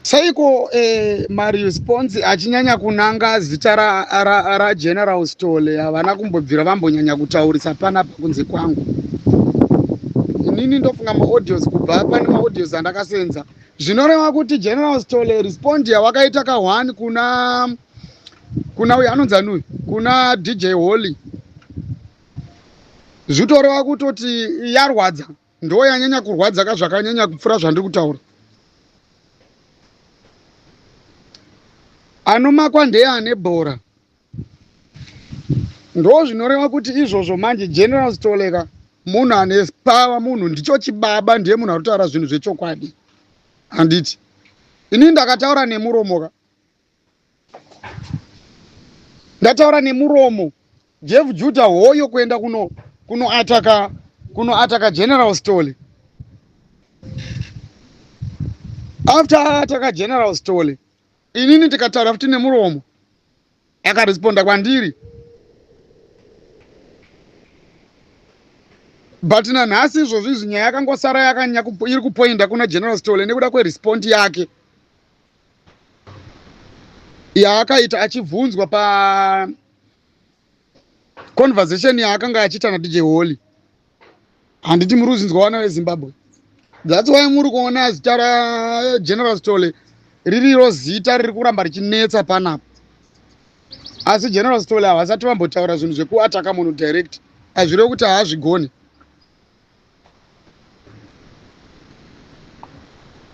Saiko eh, maresponse achinyanya kunanga zita rageneral ra, ra stole havana kumbobvira vambonyanya kutaurisa panapa kunze kwangu inini ndofunga maaudios kubva pane maaudios andakasenza zvinoreva kuti general stole respond yawakaita ka one kuna kuna uyo anonzi anuyo kuna dj holy zvitoreva kutoti yarwadza ndo yanyanya kurwadza ka zvakanyanya kupfura zvandiri kutaura anomakwa ndeye ane bhora ndo zvinoreva kuti izvozvo manje general stoleka munhu ane pava munhu ndicho chibaba ndiye munhu anotaura zvinhu zvechokwadi handiti ini ndakataura nemuromoka ndataura nemuromo jeff juda hoyo kuenda kuno kunoataka kunoataka general stoly after aataka general stoly inini ndikataura futi nemuromo akaresponda kwandiri but nanhasi izvozvi izvi nyaya yakangosara yakanyanya iri kupoinda kuna general stoly nekuda kwerespond yake yaakaita achibvunzwa pa conversation yaakanga achiita nadj holy handiti muri kuzinzwa vana vezimbabwe that's why muri kuona zita rageneral stole ririro zita riri kuramba richinetsa panapa asi general stole havasati vambotaura zvinhu zvekuataka munhu direct hazvireve kuti haazvigoni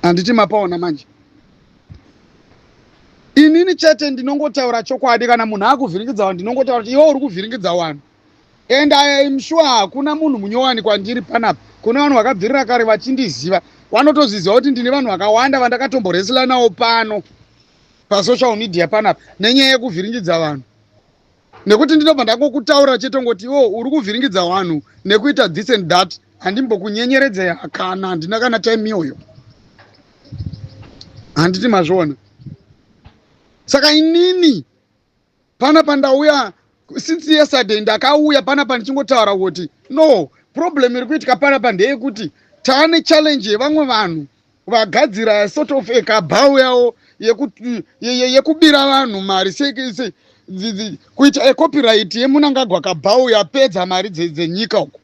handiti mapaona manje inini chete ndinongotaura chokwadi kana munhu akuvhiringidza vanhu ndinongotaura kuti iwe uri kuvhiringidza vanhu and i am sure hakuna munhu munyowani kwandiri panapa kune vanhu vakabvirira kare vachindiziva vanotozviziva kuti ndine vanhu vakawanda vandakatomboresilanawo pano pasocial media panapa nenyaya yekuvhiringidza vanhu nekuti ndinobva ndangokutaura chete ngoti iwo uri kuvhiringidza vanhu nekuita this and that handimbokunyenyeredze hakana handina kana time iyoyo handiti mazviona saka inini pana pandauya since yesterday ndakauya pana pandichingotaura kuti no problem iri kuitika panapa ndeyekuti taane challenge yevamwe vanhu vagadzira sort of ekabhawu yawo yekubira vanhu mari kuita ecopyright yemunangagwa kabhawu yapedza mari dzenyika uku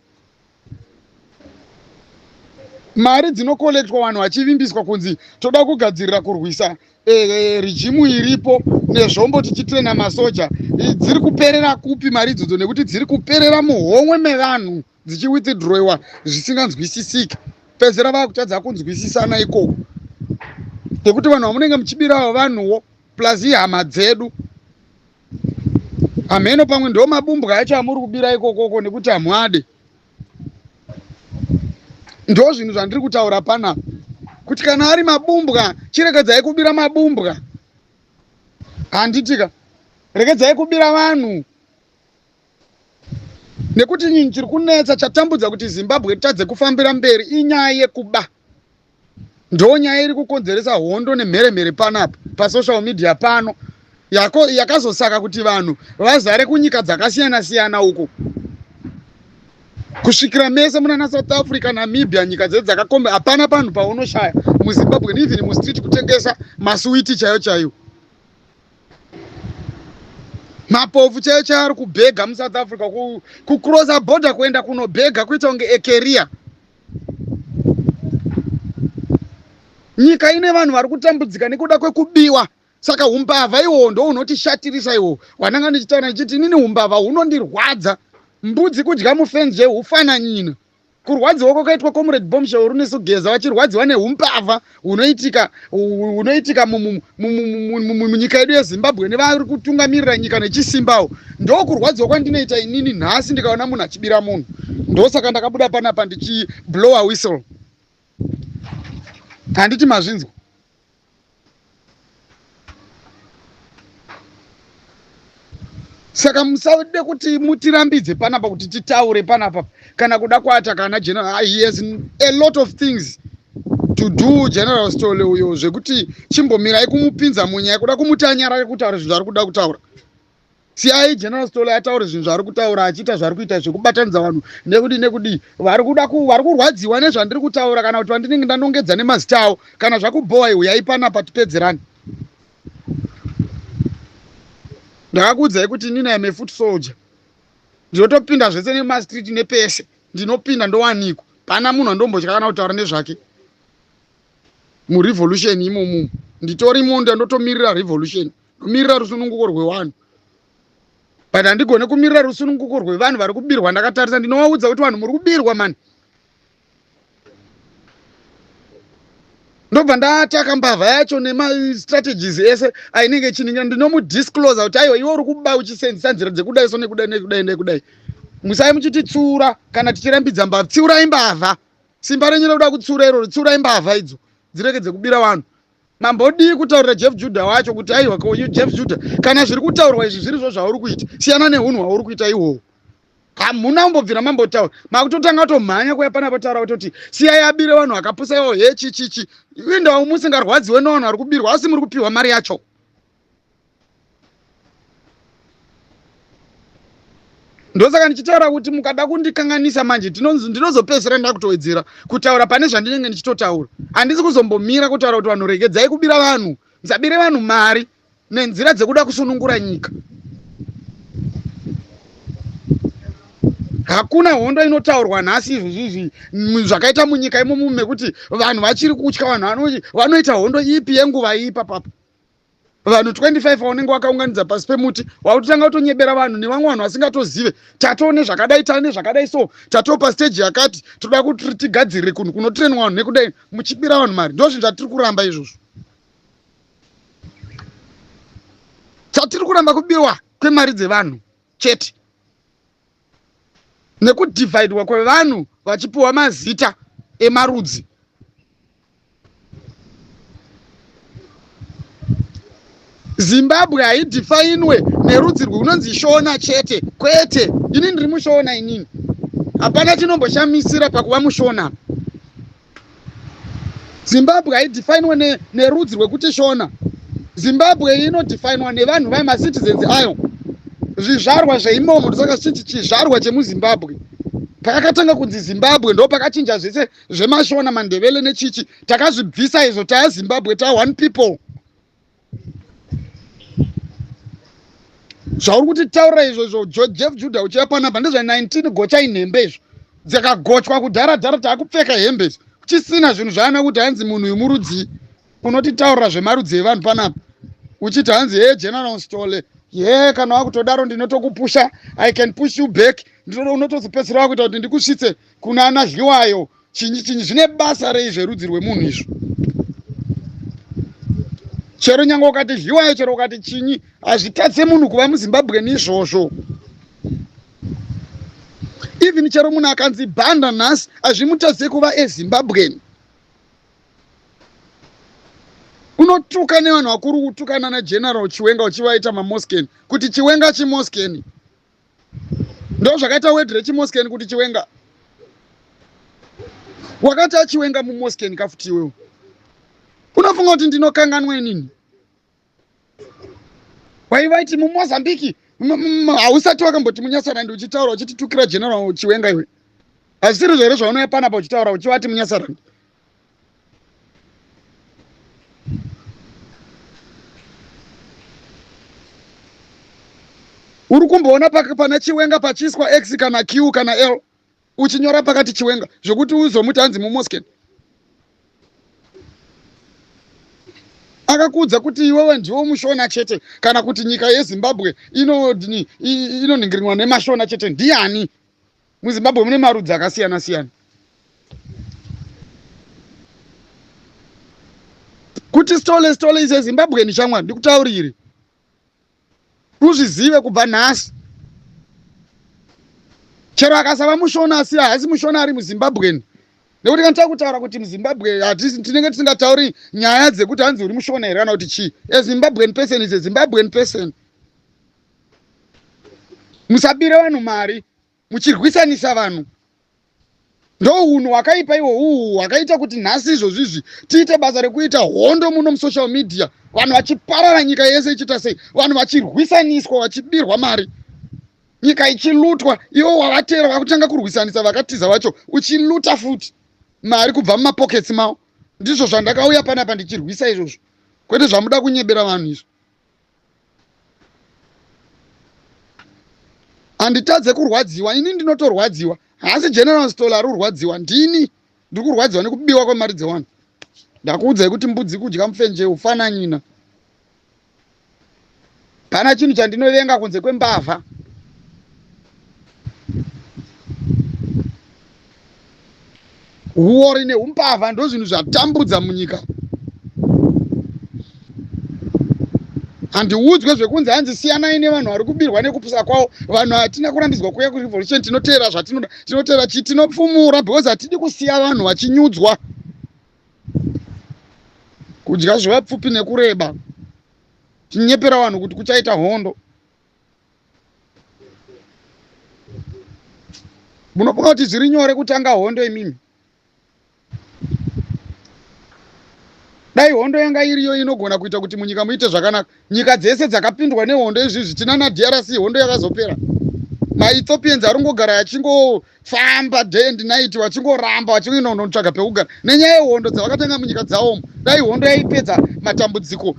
mari dzinokolektwa vanhu vachivimbiswa kunzi toda kugadzirira kurwisa eh, eh, rijimu iripo nezvombo tichitrena masoja dziri kuperera kupi mari idzodzo nekuti dziri kuperera muhomwe mevanhu dzichiwithdroiwa zvisinganzwisisiki pedzera vakutadza kunzwisisana ikoko nekuti vanhu vamunenge muchibirawo vanhuwo plus ihama dzedu hameno pamwe ndo mabumbwa acho amuri kubira ikokoko nekuti hamwade ndo zvinhu zvandiri kutaura panapa kuti kana ari mabumbwa chiregedzai kubira mabumbwa handitika regedzai kubira vanhu nekuti nyinyi chiri kunetsa chatambudza kuti zimbabwe tadze kufambira mberi inyaya yekuba ndo nyaya iri kukonzeresa hondo nemheremhere panapa pasocial media pano yakazosaka kuti vanhu vazare kunyika dzakasiyana siyana uko kusvikira mese munana south africa namibia nyika dzedu dzakakomba hapana panhu paunoshaya muzimbabwe neven mustreet kutengesa masuwiti chaiyo chaiyo mapofu chaiyo chaari kubhega musouth africa kucrossa border kuenda kunobhega kuita kunge ekeria nyika ine vanhu vari kutambudzika nekuda kwekubiwa saka umbavha iwowo ndo unotishatirisa iwowo wananga ndichitaura ndichiti inini umbavha hunondirwadza mbudzi kudya mufenzi zvehufananyina Kurwadziwa kwakaitwa Comrade Bombshell Runesogeza vachirwadziwa nehumbavha hunoitika hunoitika munyika yedu yeZimbabwe nevari kutungamirira nyika nechisimbawo ndokurwadziwa kwandinoita inini nhasi ndikaona munhu achibira munhu ndosaka ndakabuda panapa ndichiblower whistle handiti mazvinzwa saka musade kuti mutirambidze panapa kuti titaure panapa kana kuda kuata kana general ah, he has a lot of things to do general stole uyo zvekuti chimbomirai kumupinza munyaya kuda kumuti anyarare kutaura zvinhu zvaari kuda kutaura siyai general stole ataure zvinhu zvaari kutaura achiita zvaari kuita zvekubatanidza vanhu nekudii nekudii vari kuda vari kurwadziwa nezvandiri kutaura kana kuti vandinenge ndanongedza nemazita avo kana zvakubhowa iuyai panapa tipedzerani ndakakuudzai kuti inini am a foot soldier ndinotopinda zvese nemastreet nepese ndinopinda ndowanikwa pana munhu andombotya kana kutaura nezvake murevolution imomumu nditorimo ndandotomirira revolution kumirira rusununguko rwevanhu but handigone kumirira rusununguko rwevanhu vari kubirwa ndakatarisa ndinovaudza kuti vanhu muri kubirwa mani ndobva ndataka mbavha yacho nemastrategies ese ainenge chiningira ndinomudiscloser kuti aiwa iwe uri kuba uchisenzisa nzira dzekudai so nekudai nekudai nekudai musai muchititsura kana tichirambidza mbavha tsiurai mbavha simba renyu rekuda kutsura iroro tsiurai mbavha idzo dzirege dzekubira vanhu Mambodii kutaurira Jeff Judah wacho kuti aiwa ko you Jeff Judah kana zviri kutaurwa izvi zviri zvo zvauri kuita siyana nehunhu hwauri kuita ihwohwo hamuna kumbobvira mambotaura makutotanga kutomhanya kuya pana potaura kutoti siyai abire vanhu vakapusa iwo he chichichi indawo musingarwadziwe nowanhu ari kubirwa asi muri kupiwa mari yacho ndosaka ndichitaura kuti mukada kundikanganisa manje ndinozopedzisira nda kutowedzera kutaura pane zvandinenge ndichitotaura handisi kuzombomira kutaura kuti vanhu regedzai kubira vanhu musabire vanhu mari nenzira dzekuda kusunungura nyika hakuna hondo inotaurwa nhasi izvizvizvi zvakaita munyika imomo mekuti vanhu vachiri kutya vanhu vanoita hondo ipi yenguva ipa papa vanhu 25 vaunenge wakaunganidza pasi pemuti wakutotanga kutonyebera vanhu nevamwe vanhu vasingatozive tatoo nezvakadai tane zvakadai so tatoo pasteji yakati toda kuti tigadzirire kunhu kunotirenwa vanhu nekudai muchibira vanhu mari ndo zvinhu zvatiri kuramba izvozvo chatiri kuramba kubiwa kwemari dzevanhu chete nekudhivhaidwa kwevanhu vachipiwa mazita emarudzi zimbabwe haidhifainwe nerudzi rwunonzi shona chete kwete ini ndiri mushona inini hapana chinomboshamisira pakuva mushona zimbabwe haidefinwa ne, nerudzi rwekuti shona zimbabwe inodefinwa nevanhu vayo macitizens ayo zvizvarwa zveimomo ndosaka chichi chizvarwa chemuzimbabwe pakakatanga kunzi zimbabwe ndo pakachinja zvese zvemashona mandevele nechichi takazvibvisa izvo taya zimbabwe ta one people zvauri kuti taura izvo izvo jeff juda uchiya panapa ndezva 19 gocha inhembe izvo dzakagochwa kudhara dhara taakupfeka hembe idzo kuchisina zvinhu zvaana kuti hanzi munhu uyu murudzii unotitaurira zvemarudzi evanhu panapa uchiti hanzi he general stole ye kana wakutodaro ndinotokupusha i can push you back unotozopedzisira wakuita kuti ndikusvitse kuna ana dliwayo chinyi chinyi zvine basa rei zverudzi rwemunhu izvo chero nyange ukati zhiwayo chero ukati chinyi hazvitatse munhu kuva muzimbabwe neizvozvo even chero munhu akanzi banda nhasi hazvimutatse kuva ezimbabwen unotuka nevanhu vakuru kutukana nageneral chiwenga uchivaita mamosken kuti chiwenga chimosken ndo zvakaita word rechimosken kuti chiwenga wakati achiwenga mumosken kafuti iwewo unofunga kuti ndinokanganwa inini waivaiti mumozambique hausati wakamboti munyasarandi uchitaura uchititukira general chiwenga iwe hazvisiri zvere zvaunouya panapa uchitaura uchivati munyasarandi uri kumboona pana chiwenga pachiiswa x kana q kana l uchinyora pakati chiwenga zvekuti uzomuti hanzi mumosken akakuudza kuti iwewe ndiwo mushona chete kana kuti nyika yezimbabwe inoningiriwa nemashona chete ndiani MuZimbabwe mune marudzi akasiyana siyana. Kuti stole stole is a Zimbabwean shamwari ndikutaurire. Uzvizive kubva nhasi. Chero akasava mushona asi haasi mushona ari muZimbabwean. Nekuti kana takutaura kuti muZimbabwe tinenge tisingatauri nyaya dzekuti hanzi uri mushona here kana kuti chii. A Zimbabwean person is a Zimbabwean person. Musabire vanhu mari. muchirwisanisa vanhu ndounhu wakaipa iwo uhu wakaita kuti nhasi izvozvizvi tiite basa rekuita hondo muno musocial media vanhu vachiparara nyika yese ichiita sei vanhu vachirwisaniswa vachibirwa mari nyika ichilutwa iwo wavatera vakutanga kurwisanisa vakatiza vacho uchiluta futi mari kubva mumapoketsi mavo ndizvo zvandakauya panapa ndichirwisa izvozvo kwete zvamuda kunyebera vanhu izvo handitadze kurwadziwa ini ndinotorwadziwa haasi general stol ari kurwadziwa ndini ndiri kurwadziwa nekubiwa kwemari dzewanhu ndakuudzai kuti mbudzi kudya mufenje ufananyina kana chinhu chandinovenga kunze kwembavha huori neumbavha ndozvinhu zvatambudza munyika handiudzwe zvekunzi hanzi siyanai nevanhu vari kubirwa nekupusa kwavo vanhu hatina kurambidzwa kuuya kurevolution tinoteera zvatinoda tinoteera chii tinopfumura because hatidi kusiya vanhu vachinyudzwa kudya zvevapfupi nekureba tinyepera vanhu kuti kuchaita hondo munofunga kuti zviri nyore kutanga hondo imimi dai hondo yanga iriyo inogona kuita kuti munyika muite zvakanaka nyika dzese dzakapindwa nehondo izvi zvichina nadrc hondo yakazopera maethiopians arongogara yachingo famba day and night vachingoramba vachingoenda kunotsvaga pekugara nenyaya yehondo dzavakatenga munyika dzawomo dai hondo yaipedza matambudziko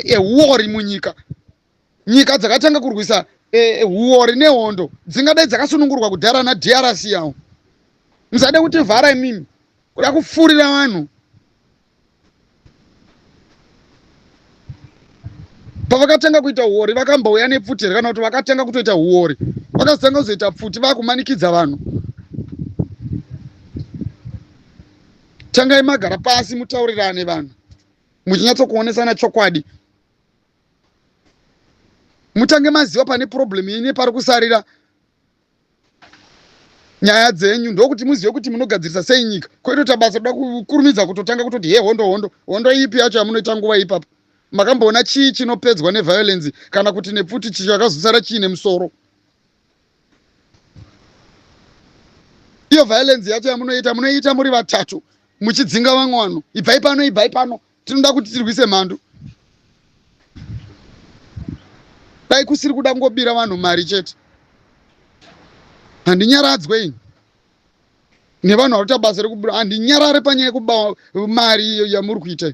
ehuori munyika nyika dzakatanga kurwisa e, huori nehondo dzingadai dzakasunungurwa kudhara nadrc yawo musade kuti vhara imimi kuda kupfuurira vanhu pavakatanga kuita huori vakambouya nepfuti here kana kuti vakatanga kutoita huori vakazotanga kuzoita pfuti vakumanikidza vanhu tangai magara pasi mutaurirane vanhu muchinyatsokuonesana chokwadi mutange maziva pane problem yenyu pari kusarira nyaya dzenyu ndokuti muzive kuti munogadzirisa sei nyika kwetoita basa toda kukurumidza kutotanga kutoti he hondo hondo hondo ipi yacho yamunoita nguva ipapa makamboona chii chinopedzwa neviolensi kana kuti nepfuti chicho yakazosara chiine musoro iyo violensi yacho yamunoita munoiita muri vatatu muchidzinga vamwe vanhu ibvai pano ibvai pano tinoda kuti tirwise mhandu dai kusiri kuda kungobira vanhu mari chete handinyaradzwe ini nevanhu vari kuita basa rekubira handinyarare panyaya yekuba mari yamuri kuita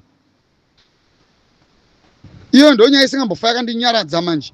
iyo ndo nyaya isingambofa yakandinyaradza manje